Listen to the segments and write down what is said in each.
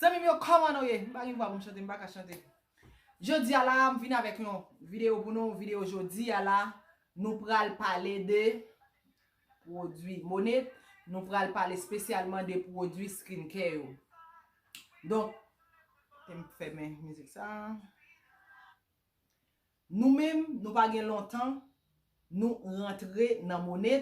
Zanmim yo kòman nou ye? M pa gen vwa pou m chante, m pa ka chante. Jodi a la a, m vin avèk yon videyo pou nou. Videyo jodi a la, nou pral pale de pwodui mone. Nou pral pale spesyalman de pwodui skincare yo. Donk, te m fèmen mizik sa a. Nou menm, nou pa gen lontan, nou rantre nan mone.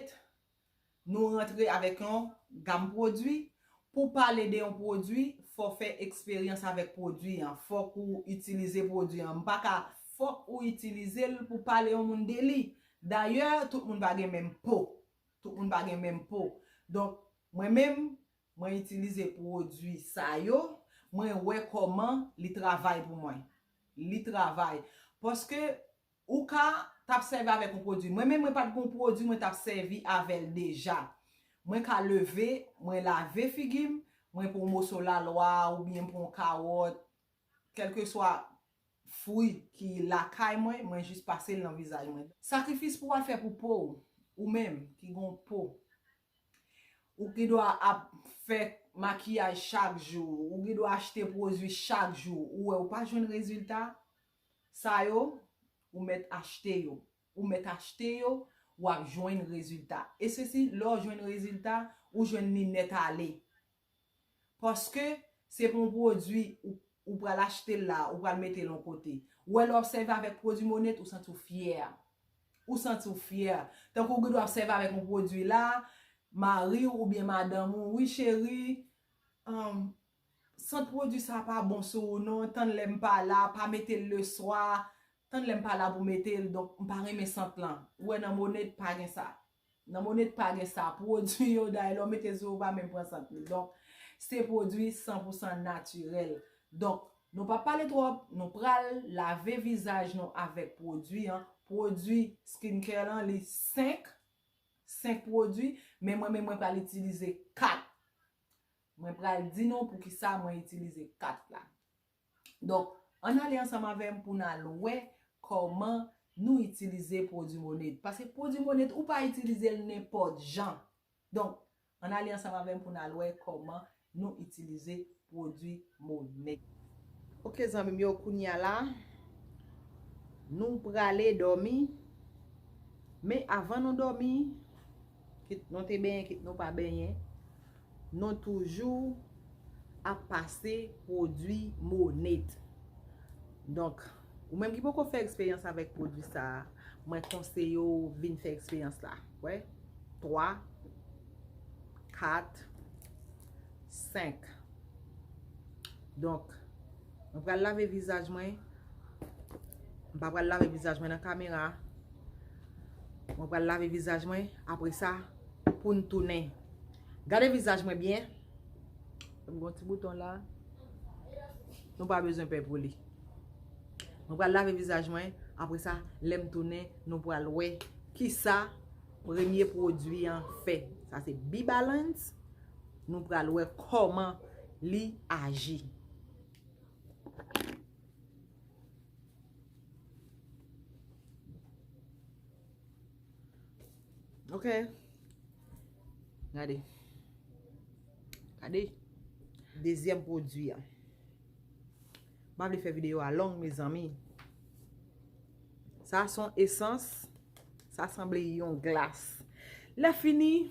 Nou rantre avèk yon Gam pwodwi, pou pale de yon pwodwi fò fè eksperyans avèk pwodwi an, fòk ou itilize pwodwi an, m pa ka fòk ou itilize l pou pale yon moun de li, dayè tout moun pa gen menm po, tout moun pa gen menm po, donk mwen menm mwen itilize pwodwi sa yo, mwen wè kòman li travay pou mwen, li travay, paske Ou ka tap sèvi avèk yon pwodwi. Mwen menm mwen pat gen yon pwodwi mwen tap sèvi avèl deja. Mwen ka leve, mwen lave figi m, mwen pran yon moso lalwa oubyen m pran yon kawòt, kèlkeswa fwi ki lakay mwen, mwen jis pase l nan vizaj mwen. Sakrifis pou w al fè pou po w, ou menm ki gen yon po. Ou gen dwa ap fè makiyaj chak jou, ou gen dwa achte pwodwi chak jou, ou wè ou pa jwenn rezilta, Sa yo, ou mèt achte yo. Ou mèt achte yo, ou ap jwenn rezilta. E se si lè w jwenn rezilta, ou jwenn li nèt ale. Paske, se pou yon pwodui ou ou pral achte l la, ou pral mete l yon kote. Ou wè lè w ap sèvi avèk pwodui Monét, ou santi w fyè. Ou santi w fyè. Tankou ou gen dwa ap sèvi avèk yon pwodui la, mari w oubyen madanm ou, wi cheri, anm, Sant pwodwi sa pa bon sou ou non tann lèm pa la pa metel le swa tann lèm pa la pou metel donk mpa renmen sant lan ou wè nan moned pa gen sa nan moned pa gen sa pwodwi yo day lèw metel sou ou pa menm pran sant li donk se pwodwi san pou san natirèl donk nou pap pale twòp nou pral lave vizaj nou avèk pwodwi an pwodwi skin care lan li 5 5 pwodwi men mwen menm mwen pral itilize 4 Mwen pral di nou poukisa mwen itilize kat la. Donk, ann ale ansanm avè m pou n al wè kòman nou itilize pwodui Moned. Pase pwodui Moned, ou pa itilize l nenpòt jan. Donk, ann ale ansanm avè m pou n al wè kòman nou itilize pwodui Moned. Ok zanmi m yo, kounye a la, nou prale dòmi. Men avan nou dòmi. Kit nou te benyen, kit nou pa benyen, nou toujou ap pase pwodwi Monat. Donk, ou menm ki poko fè eksperyans avèk pwodwi sa, mwen konseye ou vin fè eksperyans la. Wè? 3, 4, 5. Donk. Mwen pral lave vizaj mwen. M pa pral lave vizaj mwen nan kamera. Mwen pral lave vizaj mwen. Apre sa, pou n tounen. Gade vizaj mwen byen. M gon ti bouton la. Nou pa bezwen pè pou li. Mwen pral lave vizaj mwen. Apre sa, lè m tounen, nou pral wè. Ki sa premye pwodwi an fè. Sa se Bibalance. Nou pral wè kòman li aji. Ok. Gade. Gade. Dezyèm pwodwi an. Mab li fè videyo a long me zanmi. Sa son esans. Sa sanble yon glas. Lè fini.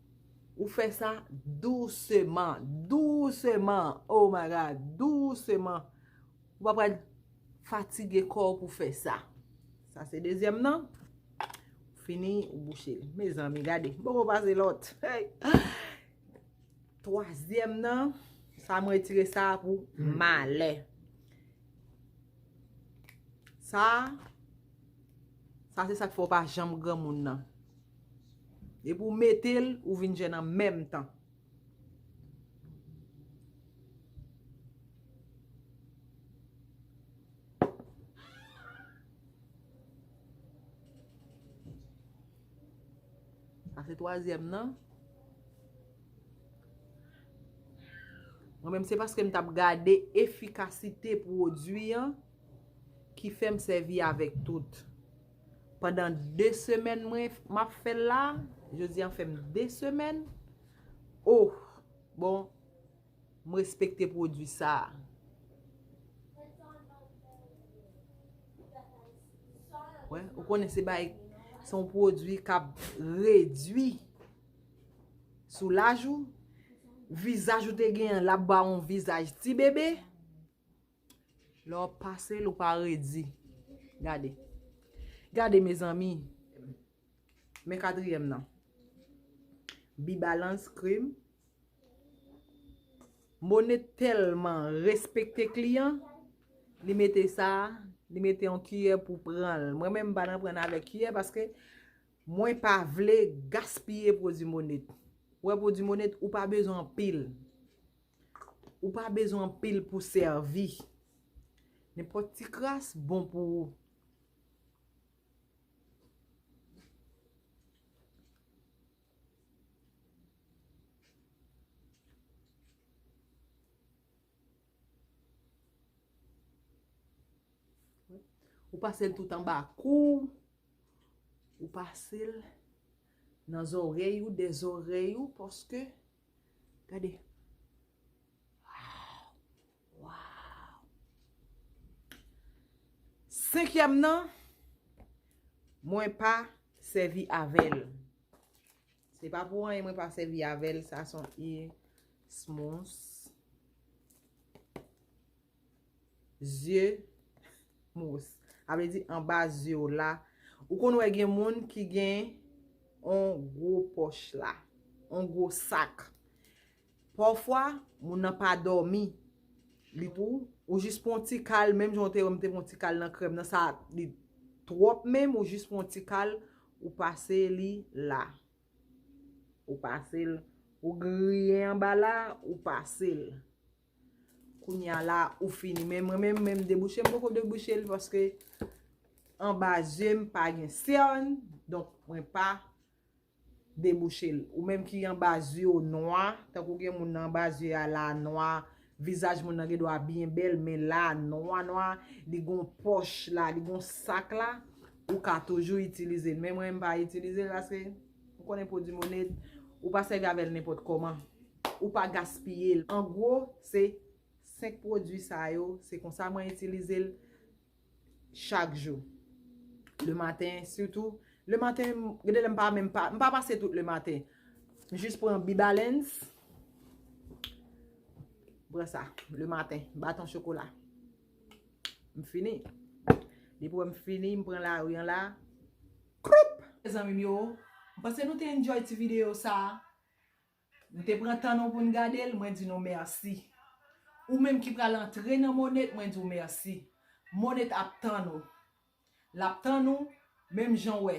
Ou fè sa douseman, douseman, oh my God, douseman. Ou pa pral fatige kò ou pou fè sa. Sa se dezyèm nan. Ou fini, ou bouche. Mezanmi, gade. Bon, ou pase lòt. Twazyèm nan, sa mwen tire sa pou malè. Sa. Sa se sak fè ou pa janm granmoun nan. Depi ou mete l, ou vin jèn an menm tan. Sa se twazyèm nan. Mwen menm se paske m tap gade efikasite pwodwi an. ki fèm sèvi avèk tout pandan 2 semèn mwen map fèl la jodi an fèm 2 semèn ohh bon m respekte pwodwi sa wè ou konnen se bay se yon pwodwi kap redwi sou laj ou vizaj ou te gen lap ba yon vizaj ti bebe. Lè wap pase l ou pa redi. Gade. Gade mezanmi. Men katriyèm nan. Bi balans krim. Mone telman respekte kliyan. Li mete sa. Li mete yon kiyè pou pran l. Mwen men m pa nan pran nan avèk kiyè. Paske mwen pa vle gaspiye pwodi mone. Ou wè pwodi mone ou pa bezwen anpil. Ou pa bezwen anpil pou sèvi. Nenpòt ti kras bon pou ou. Ou pase l tout anba kou ou. Ou pase l nan zòrèy ou, dè zòrèy ou, paske Gade. Waww. Waww. Senkyèm nan. Mwen pa sèvi avèl. Se pa pou anyen mwen pa sèvi avèl. Sa son e smous. zye mous. A vle di anba zye w la. Ou konn wè gen moun ki gen on gwo pòch la. On gwo sak. Pafwa, moun nan pa dòmi. Li pou ou jis pou on ti kal. Menm jan ou te wè m te pou on ti kal nan krèm nan sa li twòp menm ou jis pou on ti kal. Ou pase li la. Ou pase l. Ou griye anba la. Ou pase l. Kounya la ou fini men mwen menm menm debouche m poko debouche l paske anba zye m pa gen sèn donk mwen pa debouche l ou menm ki anba zye w nwa tankou gen moun nan anba zye a la nwa vizaj moun nan gen dwa byen bèl men la nwa nwa li gon pòch la li gon sak la ou ka toujou itilize l men mwen m pa itilize l paske m konnen pwodwi monet ou pa sèvi avè l nenpòt kòman. ou pa gaspiye l an gwo se 5 pwodwi sa yo se konsa mwen itilize l chak jou le maten sitou le maten gade lè m pa menm pa m pa pase tout le maten m jis pran bibalens m pran sa le maten baton chokola m fini depi wè m fini m pran la riyan la koup mezanmi m yo m panse nou te enjoy ti videyo sa a. Nou te pran tan nou pou n gade l, mwen di nou mèsi. Ou menm ki pral antre nan Monet, mwen di w mèsi. Monet ap tann ou. L ap tann ou, menm jan w wè.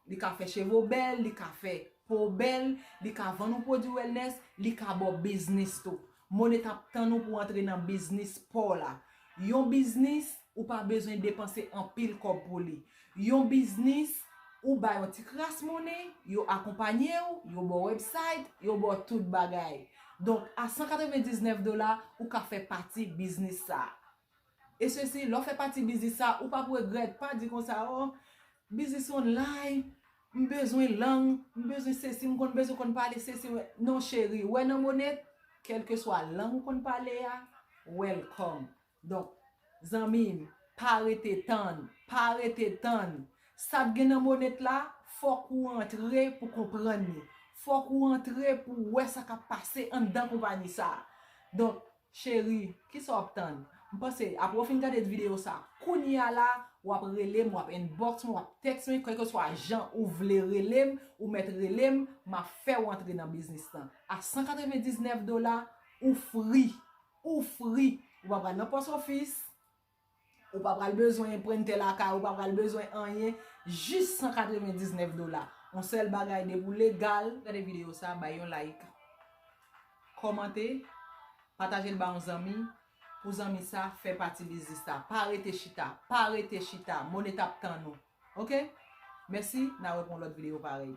Li ka fè cheve w bèl, li ka fè po w bèl, li ka vann ou pwodui wellness, li ka ba w biznis tou. Monet ap tann ou pou w antre nan biznis pa w la. Yon biznis. Ou pa bezwen depanse anpil kòb pou li. Yon biznis, ou ba yon ti kras money, yo akonpanye w, yo ba w website, yo ba w tout bagay. Donk, a 199 dola, ou ka fè pati biznis sa. E se si, lè w fè pati biznis sa, ou pap regrèt, pa di konsa, oh, biznis online, m bezwen lang, m bezwen sesi, m konn bezwen konn pale sesi, m. Non cheri, wè nan bonèt, kèlkeswa lang ou konn pale a, welcome. Donk, zanmi m, pa rete tann, pa rete tann! Sa t gen nan Monet la, fòk ou antre pou konprann li. Fòk ou antre pou w wè sa k ap pase anndan konpayi sa a. Donk, cheri, ki sa w ap tann? M panse, apre w fin gade videyo sa a, kounye a la a, w ap rele m, w ap inbox mwen, w ap text mwen, kèlkeswa jan ou vle rele m, ou mèt rele m, m ap fè w antre nan biznis lan. A 199 dola, ou fri! Ou fri, ou pa pral nan pòs ofis, ou pa pral bezwen enprente lakay ou, ou pa pral bezwen anyen, jis 199 dola. On sèl bagay depi ou legal. Gade video sa bay yon like. Kòmante, patajel ba yon zanmi, pou zanmi sa fè pati biznis la. Pa rete chita, pa rete chita, mone tap tann ou. Ok? Mèsi, na wè pou yon lòt video parèy.